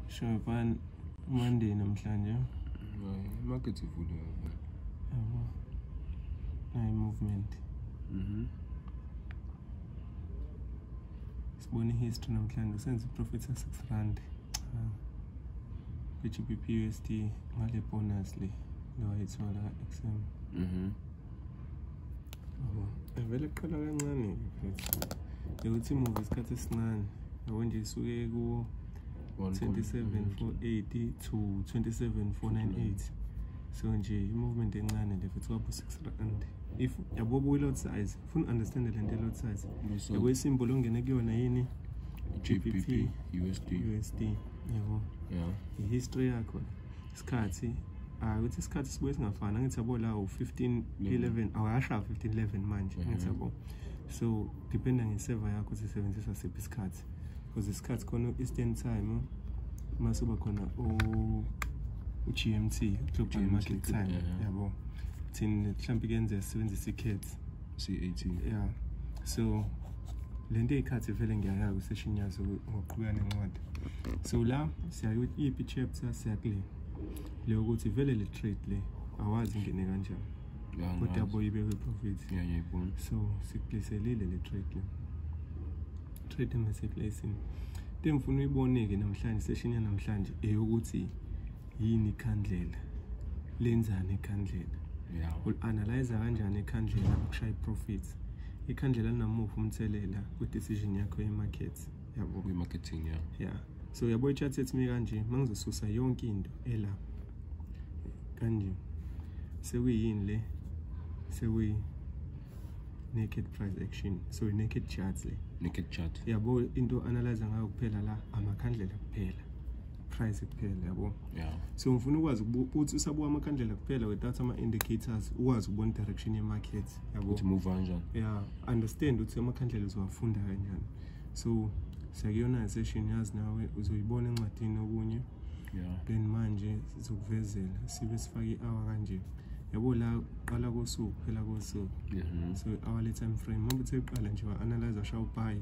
Shaban Monday namhlanje. Hayi, market ivule yabo. Yabo. Hayi movement. Mhm. Sibone history namhlanje senze profit sa 6 rand. Cha. Kwi-GBP USD ngale bonus le lo ayithola XM. Mhm. vele kuqala kancane mfethu ukuthi imuva isikhathi esincane yabo nje isuke ku 27480 to 27498 so nje i-movement encane le futhi kwabo 6 rand if yabo buyi-lot size funa understand le nto i-lot size yabo isimbolo ongene kuyona yini GBP USD USD yabo yeah i-history yakho isikhathi hayi ukuthi isikhathi sibuye singafani angithi yabo la u-15 11 awuyasha 15 11 manje mhm. angithi yabo so dependa ngeseva yakho ukuthi isebenzisa siphi isikhathi because isikhathi khona u-eastern time mase uba khona u-g m t global market time yabo thina mhlawumbe kuyenzeka sisebenzisa i-cats CAT. Yeah. So lento eyikhathi vele ngiyayaka session yazo ngoqhubeka nencwadi. So la siyayo ipi chapter siyakule. Leyo ukuthi vele le trade le awazi ngene kanjani. Kodwa boyibe we profit. Yeah, yeah, bon. So sikupleselile le trade le. Trade ngeseplacing. Into engifuna uyibone ke namhlanje session yanamhlanje eyokuthi yini ikhandlela lenzani ikhandlela ul-analyza kanjani ikhandlela ukushaya i-profits ikhandlela linamuva umthelela kwi-decision yakho ye-market yabo kwi-marketing ya ya so yabo i-chat ethi mi kanje uma ngizosusa yonke into ela kanje sekuyini le sekuyi naked price action so i-naked charts le naked chart yabo into analyze ngayo kuphela la amakhandlela kuphela price kuphela yabo yeah. so ngifuna ukwazi ukuthi usabuka amakhandlela kuphela without ama-indicators ukwazi ukubona direction ye-market yabo move kanjani yeah understand ukuthi amakhandlela uzowafunda kanjani so siyakuyona i-session yazi nawe uzoyibona encwadini okunye yeah. then manje sizokuvezela sibe sifake i-hour kanje yabo la uqala kosuku phela kosuku yeah. so i-hour le time frame mabuthe uqala nje wa-analyze ashawupayi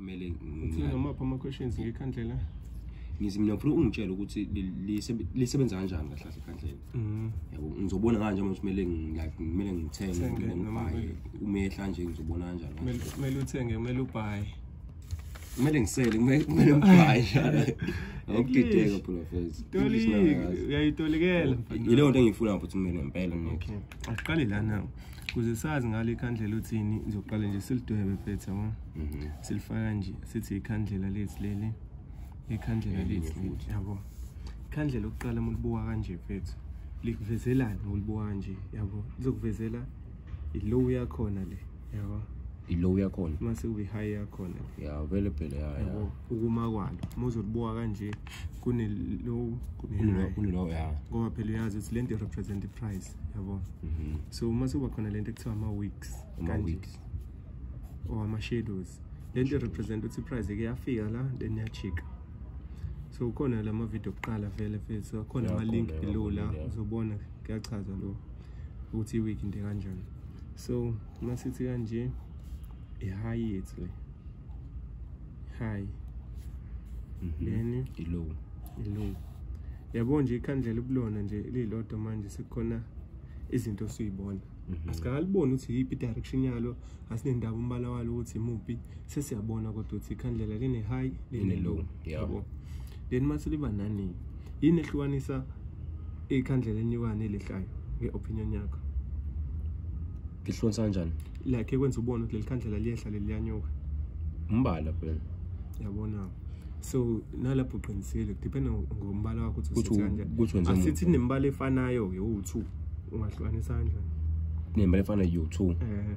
kumele uthini ngamaphi ama-questions ngekhandlela ngithi mina ngifuna ungitshele ukuthi lisebenza kanjani kahle kahle ekhandlela mm-hmm. yabo ngizobona kanje manje kumele like kumele ngithenge kumele ngibhaye umehla nje ngizobona kanjani kumele uthenge kumele ubhaye kumele ngisele kumele ngibhaye ngokudideka phula face uyayitolikela yileyo nto engiyifuna futhi mina ngempela mina okay asiqale la nawo kuze sazi ngale ikhandlela uthini ngizoqala nje silidwebe phethe yabo mhm. silifaka nje sithi ikhandlela lethu leli ikhandlela lethu futhi yabo ikhandlela ukuqala uma ulibuka kanje phethe likuvezelani ngolibuka kanje yabo lizokuvezela ilow yakhona le yabo ilow yakhona mase kube high yakhona ya vele phela ya yabo ukuma kwalo muzolibuka kanje kune low kune high kune low ya ngoba phela uyazi ukuthi lento represent the price yabo mhm. so uma sekuba khona lento ekuthiwa ama weeks ama weeks or ama shadows lento represent ukuthi price ke yafika la then yachika so khona lama video kuqala vele vele so khona ama link below la uzobona kuyachaza lo ukuthi i week into kanjani so uma sithi kanje i-high yethu le high mm -hmm. then i-low i-low yabo nje ikhandlela ubulona nje lilodwa manje sekukhona izinto osuyibona mm -hmm. asikaliboni ukuthi yiphi i-direction yalo asinendaba umbala walo ukuthi imuphi sesiyabona kodwa ukuthi ikhandlela line-high line-low yabo yeah. then uma seliba nani yini ehlukanisa ikhandlela enyukane elihlayo nge-opinion yakho lihlonisa kanjani like ekwenza ubone ukuthi leli khandlela liyehla leli liyanyuka umbala phela yabona so nalapho uqinisile depend ngombala wakho ukuthi asithi nembala efanayo yo-two ungahlukanisa kanjani nembala efanayo yo-two um eh.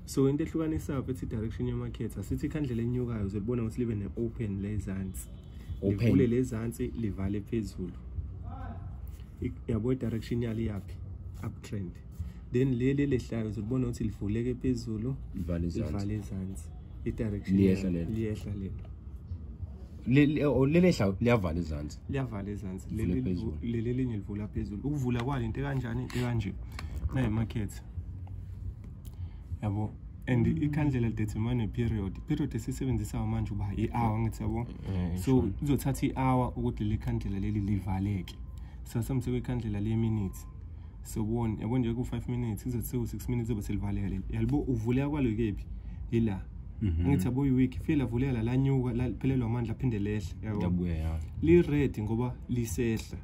so into ehlukanisa phethi direction yemarket asithi ikhandlela enyukayo uzolibona ukuthi libe ne-open lezansi livule lezansi livale phezulu yabo i-direction yalo iyaphi uptrend then leli lehlayo uzolibona ukuthi livuleke phezulu livale ezansi i-direction liyehla lelo lelehla oh, liyavala izansi liyavala izansi leli linye livula phezulu ukuvula kwalo into ekanjani into ekanje nayimakhethi yabo and mm. ikhandlela lidetermine iperiod iperiod esisebenzisa manje uba i-hour ngithi yabo eh, so kuzothatha i-hour ukuthi leli khandlela leli livaleke so samse kwikhandlela leminute so kubona yabo nje ku-five minutes kuzothi sewu-six minutes zobe selivaleka leli yalibo uvuleka kwalo kephi yila mhm. ngithi yabo iwiki fike lavuleka la lanyuka laphelelwa amandla aphinde lehle yabo lired ngoba lisehla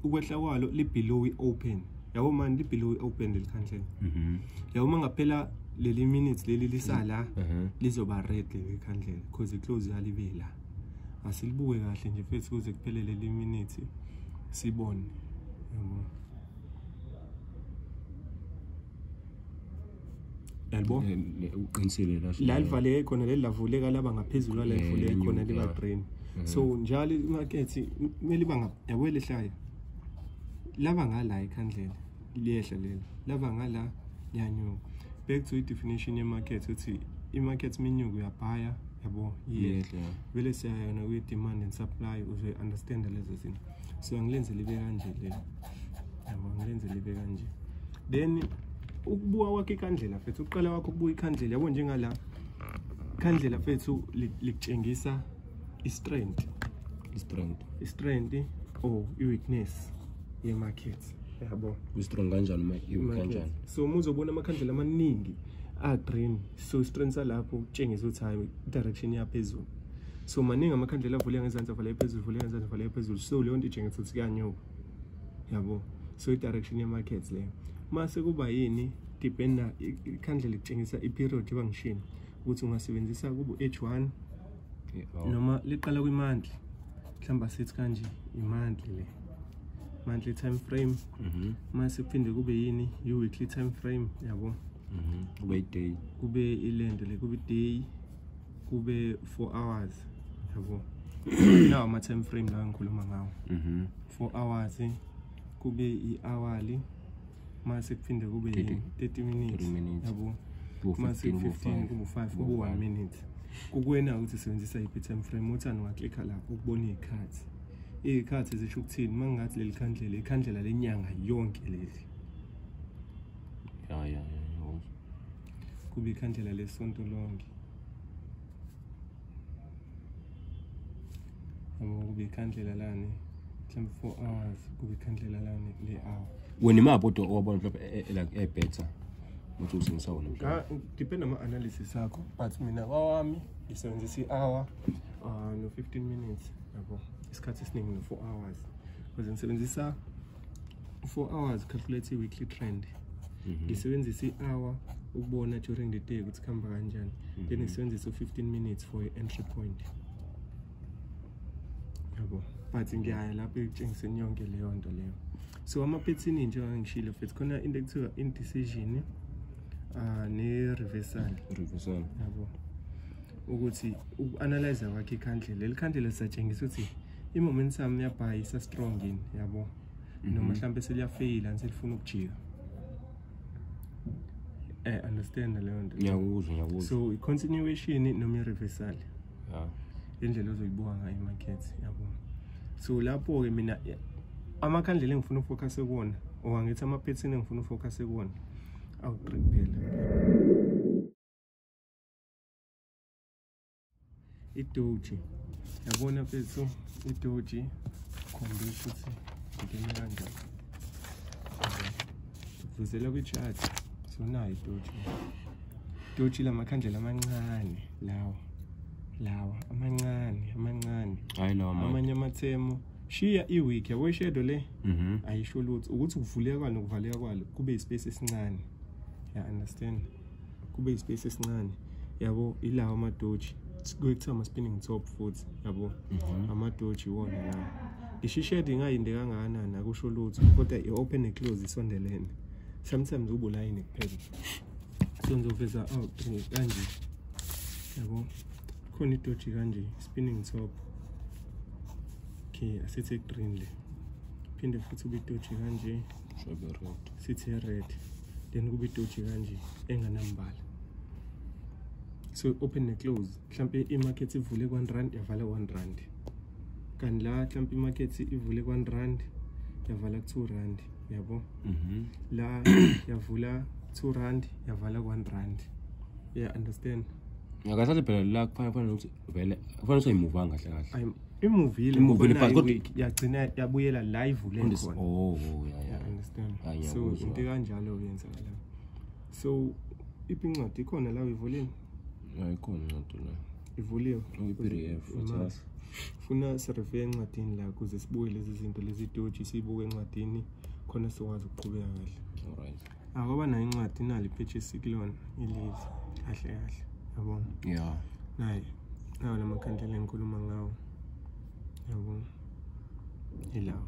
ukwehla kwalo libhilowi open yabo mani libhilowi open leli khandlela mhm. yabo uma ngaphela leli minutes leli lisala mhm. mhm. lizoba red leli khandlela because iclose yalibe la asilibuke kahle nje futhi kuze kuphele leli minute sibone yabo yalibo uqinisile la la livaleke khona leli lavuleka laba ngaphezulu la livuleke khona liba green mm-hmm. so njalo imakethi kumele iba yabo lehlaya laba ngala ikhandlela liyehla leli laba ngala liyanyuka back to i-definition ye-market uthi i-market iminyuko uyabhaya yabo yehla vele siyayona kwi-demand and supply uzoyi-understanda lezo zinto so ngilenze libe kanje le yabo ngilenze libe kanje then ukubuka kwakhe ikhandlela fethu uqala wakho ukubuka ikhandlela yabo njengala ikhandlela fethu likutshengisa i-strength i-strength i-strength or oh, i-weakness ye-market yabo i-strong kanjani uma i-weak kanjani so uma uzobona amakhandlela amaningi a-green so i-strength salapho kutshengisa ukuthi hayi i-direction yaphezulu so maningi amakhandlela avule ngezansi avale phezulu vule ngezansi avale phezulu so leyo nto ijengisa ukuthi kuyanyuka yabo so i-direction ye-markets leyo mase kuba yini dependa ikhandlela litshengisa i-period iba ngishini ukuthi ungasebenzisa kubo-h one oh. noma liqala kwi-monthly mhlawumbe asithi kanje i-monthly le monthly time frame mhm. mase kuphinde kube yini i-weekly time frame yabo mhm. kube i-day kube ilento le kube i-day kube 4 hours yabo nawo ama time frame la ngikhuluma ngawo mhm 4 hours kube i-hourly mase kuphinde kube 30 minutes yabo mase 15 kube 5 kube 1 minute kukwena ukuthi sebenzisa iphi time frame uthani waklikha lapho ukubona izikhathi izikhathi zisho ukuthini mangingathi leli khandlela ikhandlela lenyanga yonke leli ya ya ya kuba ikhandlela lesonto lonke yabo kuba ikhandlela lane mhlawumbe four hours kuba ikhandlela lane le hour wena imaphi odwa owabona mhlawumbe e- e- like ebhetha ukuthi usebenzisa wona mhlawumbe Ka- depend ama-analysis akho but mina kwawami ngisebenzisa i-hour um no-fifteen minutes yabo isikhathi esiningi no-four hours because ngisebenzisa four hours calculate i-weekly trend mhm. ngisebenzisa mm -hmm. i-hour ukubona during the day ukuthi kuhamba kanjani mm -hmm. then ngisebenzisa u-15 minutes for i-entry point yabo but ngiyaya lapho ekutshengiseni yonke leyo nto leyo so amaphethini njengoba ngishilo futhi khona into ekuthiwa indecision uh, ne-reversal reversal yabo ukuthi uku-analyza kwakhe ikhandlela leli khandlela lisatshengisa ukuthi i-momentum yabhayi isa-strong yini yabo mm -hmm. noma mhm. mhlawumbe seliyafeyila niselifuna ukujika eh understand leyo nto ngiyakuzwa ngiyakuzwa so i-continuation noma i-reversal yeah. indlela ozoyibuka ngayo i-market yabo so lapho-ke mina amakhandlela engifuna ufocuse kuwona or angithi amaphethini engifuna ufocuse kuwona awuqi kuphela idoji yabona mfethu idoji khombisa ukuthi ngingene kanjani ngivuzela kwi-chat sonayo idoji idoji lamakhandlela amancane lawa lawa amancane amancane hayi lawa amanye amathemo shiya i-week yabo ishedo le mhm. ayisho lutho ukuthi ukuvuleka kwalo nokuvaleka kwalo kube ispace esincane ya understand kube ispace esincane yabo ilawo amadoji kuyekuthiwa ama-spinning top futhi yabo mhm. amadoji iwona la ishishedi ingayinde kangakanani akusho lutho kodwa i-open neclose isondelene sometimes ubulayini kuphela so ngizoveza out kanje yabo khona idoji kanje spinning top okay asithi green le phinde futhi ubidoji kanje sithi red then kube itoji kanje enganambala so open ne close mhlampe imarket ivule ku-1 rand yavala 1 rand kanti la mhlampe imarket ivule ku-1 rand yavala ku-2 rand yabo mhm. la yavula 2 rand yavala ku-1 rand yeah understand ngakathathe phela la kufanele kufanele ukuthi vele kufanele soyimuva kahle kahle imuvile imuvile but kodwa yagcina yabuyela la ivule khona oh, oh yeah yeah understand ah, so into kanjalo yenzakala so iphi incwadi ikhona la uyivuliwe hayi khona incwadi la ivuliwe i-pdf funa sirefe encwadini la kuze sibuke lezi zinto lezi doji siyibuke encwadini khona sikwazi ukuqhubeka kahle all right akwaba nayo incwadi inalo iphetshisi kulona ileli kahle kahle yabona ya naye nawo la makhandlela engikhuluma ngawo yabona ilawo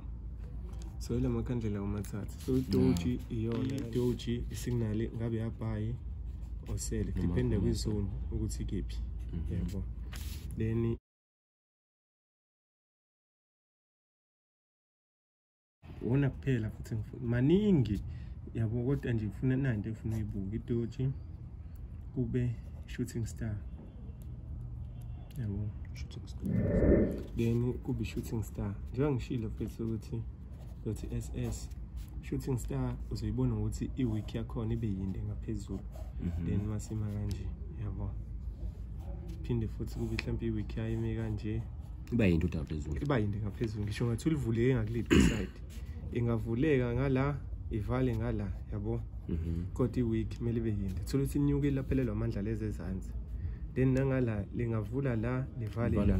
so ila makhandlela omathathu so idoji iyona idoji isignali ngabe yabhayi osele depende kwizone ukuthi kephi mhm. yabo then wona kuphela futhi ngifuna maningi yabo kodwa nje ngifuna nanto efuna uyibuka idoji kube shooting star yabo shooting star then kube shooting star njengoba ngishilo futhi ukuthi ukuthi SS shooting star uzoyibona ukuthi iweek yakhona ibe yinde ngaphezulu mhm. then masima kanje yabo phinde futhi kube mhlawumbe iweek yayime kanje iba yinto udawu phezulu iba yinto ngaphezulu ngisho ngathi ulivuleke ngakuliphi side ingavuleka ngala ivale ngala yabo mhm. kodwa i-week kumele ibe yinto thola ukuthi inyuke ilaphelelwa amandla lezi ezansi then nangala lingavula la livale la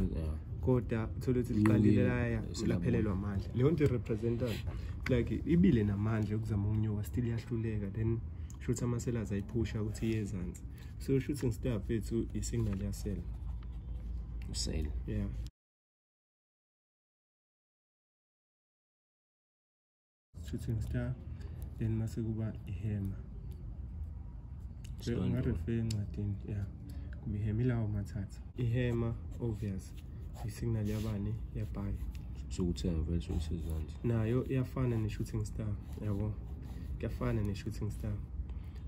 kodwa uthole ukuthi liqalile laya laphelelwa amandla leyo nto irepresentani like ibile namandla yokuzama ukunyuka still iyahluleka then shuthi amaselazi ayiphusha ukuthi iye ezansi so u shooting star fethu i signal ya cell u cell yeah shooting star then mase kuba i hammer so unga refer encwadini yeah kuba i hammer lawo mathatha i hammer obvious i signal yabani ya buy so uthenga vele so usezansi nayo iyafana ne shooting star yabo kuyafana ne shooting star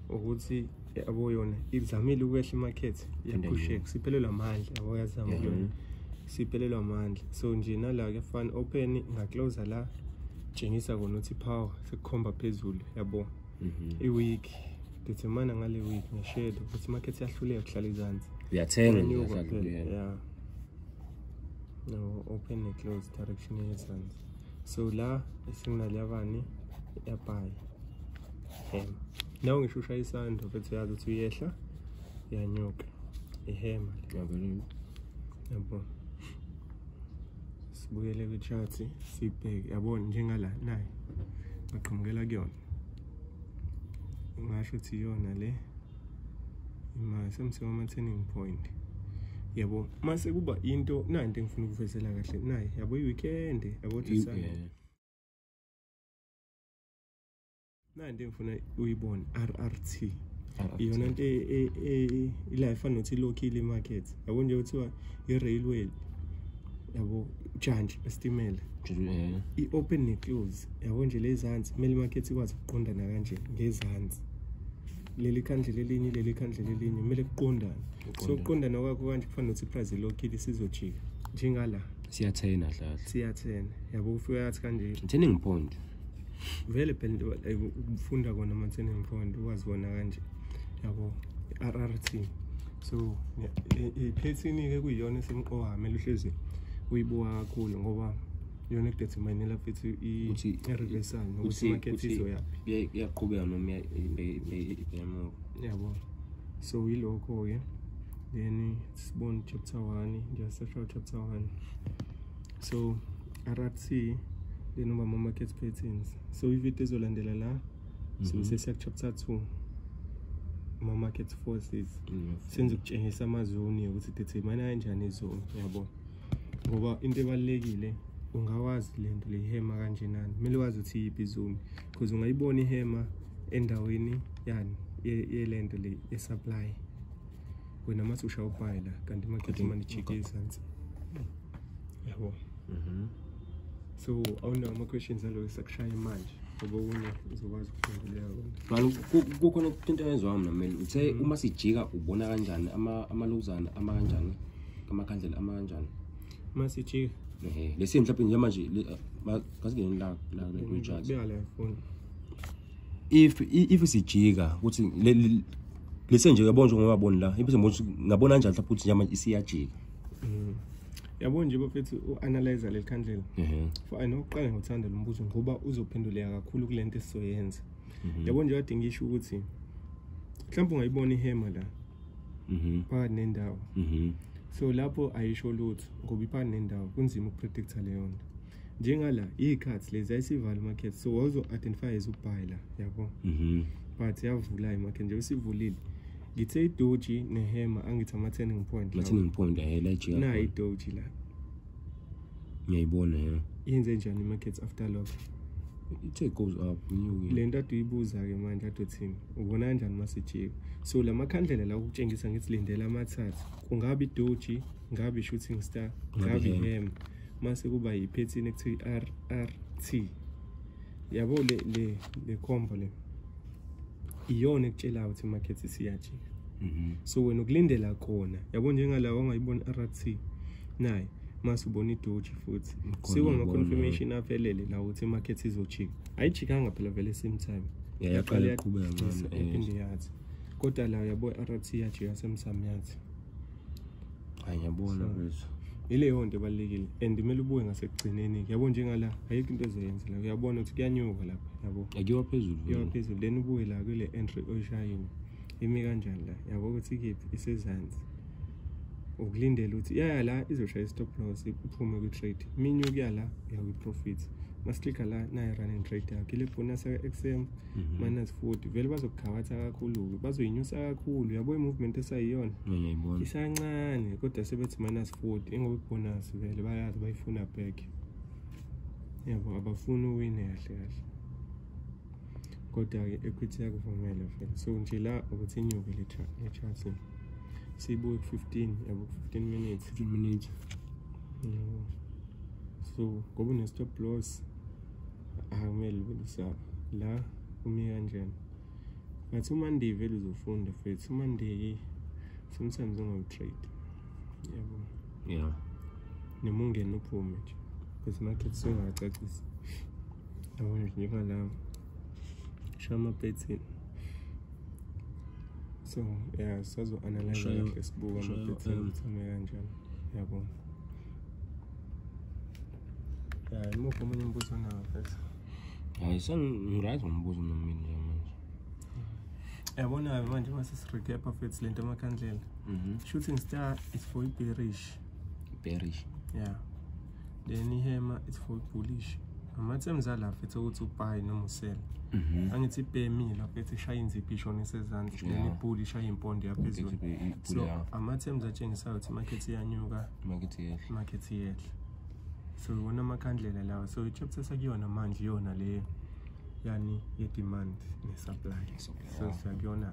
ukuthi yabo yona izamile ukwehla imarket iyagusheka siphelelwa amandla yabo yazama yona siphelelwa amandla so nje nala kuyafana open ngaclose la tshengisa kona ukuthi power sekukhomba phezulu yabo mhm. i-week determine ngale week ngeshedo ukuthi imarket iyahluleka kuhlala izansi uyathenga yeah no open ne close direction yezansi so la esinginaliyabani yabayi hema nawe ngisho ushaya isando mfethu uyazi ukuthi uyehla uyanyuka ihema ngiyabona yabo sibuyele kwi-chart sibheke yabona njengala naye ngaqhamukela kuyona ngasho ukuthi iyona le imali semseko ama-turning point yabo mase kuba into nanto engifuna ukuvezela kahle naye yabo i-weekend yabo nanti engifuna uyibone rrt iyona nto e- e- e- ila efana nokuthi ilokhile imarket yabo nje kuthiwa i-railway yabo ujantshi esitimela Eh, i-open ne-close yabo nje lezansi kumele imarket ikwazi ukuqondana kanje ngezansi leli khandle lelinye leli khandle lelinye kumele kuqondane so ukuqondana kwakho kanje kufana nokuthi iprize ilokhile isizojika njengala siyathena hlahla siyathena yabo ufika yathi kanje turning point vele phela like ukufunda kona amatheni emfundo ukwazi kona kanje yabo i-rrt so iphethini-ke kuyiyona esemqoka mele uhlezi uyibuka kakhulu ngoba yona ekudeterminela futhi i-reversal nokuthi imakethe izoyaphi iyaqhubeka noma emuva yabo so yilokho-ke then sibone chapter one nje seshaw chapter one so rc leno mama market patterns so ividiyo ezolandela la mhm. so sesiya chapter 2 ama market forces mm, senze ukutshengisa amazoni ukuthi determine kanjani izoni yabo ngoba into ebalekile ungawazi lento lehema kanjenani kumele wazi ukuthi yiphi izoni because ungayibona ihema endaweni yani yelento le ye supply wena mase ushawubhayila kanti market money chike izansi yabo mhm so awunawo ama-questions aloyo sakushaye manje ngoba okunye uzokwazi ukuphenduleka kona kukhona into yenziwa mna mele uthe mm. uma sijika ubona kanjani amaluzana ama kanjani amakhandlela ama kanjani uma sijika ehe lesi mhlawumbe njemanje kasingenini la la kujaji if if sijika ukuthi lesi nje uyabona njengoba boni la impilo ngabona kanjani mhlawumbe ukuthi njemanje isiyajika mm. yabo nje bafethu u-analyza leli khandlela mhm. for i know uqale ngothanda lo mbuzo ngoba uzophenduleka kakhulu kule nto esizoyenza mhm. yabo nje kade ngisho ukuthi mhlawumbe ungayibona ihema la mhm. phakathi nendawo so lapho ayisho lutho ngoba iphakathi nendawo kunzima ukupredicta leyo nto njengala iy'khathi lezi ayisivala i-market so wawuzo-identify as ubuy la yabo mhm. but yavula i-market nje usivulile ngithe idoji nehema angithi ama-turning point ama-turning point ayelajika na idoji la ngiyayibona ya yenze njani i-market after lock ithe goes up le nto ade uyibuza-ke manje ade uthini ubona kanjani uma sijika so la makhandlela la ukutshengisa ngithi lindela amathathu kungabe idoji ngabe i-shooting star ngabe ihema mase kuba yiphethini ekuthiwa i-r r t yabo le le le combo le iyona ekutshelayo ukuthi market siyajika mhm. so wena ukulindela kona yabo njengalawo ongayibona r t naye mase ubona idoji futhi siwa ama-confirmation avelele la ukuthi imarket izojika ayijikanga phela vele same time yaqala iqhubeka ngcono eh. kodwa la yabo i-r t yajika same time yathi hayi ngiyabona mfethu ileyo nto ebalulekile and kumele ubuye ngasekugcineni yabo njengala ayikho into ezoyenza la uyabona ukuthi kuyanyuka lapha yabo akuyiwa phezulu kuyiwa phezulu then ubuye la kule entry oyishayini imi kanjani la yabo ukuthi ikephi isezansi ukulindela ukuthi yaya la izoshaya i-stop loss iphume kwi-trade minyukuya la uya kwi-profit masiklikha la nayi-running trade yakho ile bonus ka-xm Mhm. minus 40 vele bazokukhabatha kakhulu-ke bazoyinyusa kakhulu yabo i-movement esayiyona ngiyayibona isancane kodwa sebethi minus 40 ingoba ibonus vele bayazi bayifuna back yabo abafuni uwine kahle kahle kodwa-ke equity yakuvumela vele so nje la ukuthi inyuke le cha- le chart siyibuke ku-15 yabo ku-15 minutes 15 minutes yabo so ngoba une-stop loss akumele ubelisaba la umi kanjani ngathi umonday vele uzofunda futhi umonday sometimes ungawu-trade yabo yeah noma ungena uphume nje because market sengacacisa yabo nje njengalawo sho ama-pattern so yeah sazo-analyze kahle sibuka ama-pattern um, ukuthi ame kanjani yabona imuphi omunye umbuzo onawo mfethu hayi sengiryt ngombuzo mna mina nje manje yabona-ke manje uma sesirecapa fethu le nto amakhandlela mhm. shooting star is for iberish iberish yeah then ihema is for ibullish ama-terms ala fethu ukuthi upayi noma usela mhm. angithi ipemile fethu ishaya inziphi ishona isezandla then ibhuli ishaya impondo yaphezulu so ama-terms atshengisayo ukuthi imakhethi iyanyuka Makithi yehle. Makithi yehle. So wona amakhandlela lawa. So chapter sakuyona manje yona le yani ye demand ne supply. So sakuyona.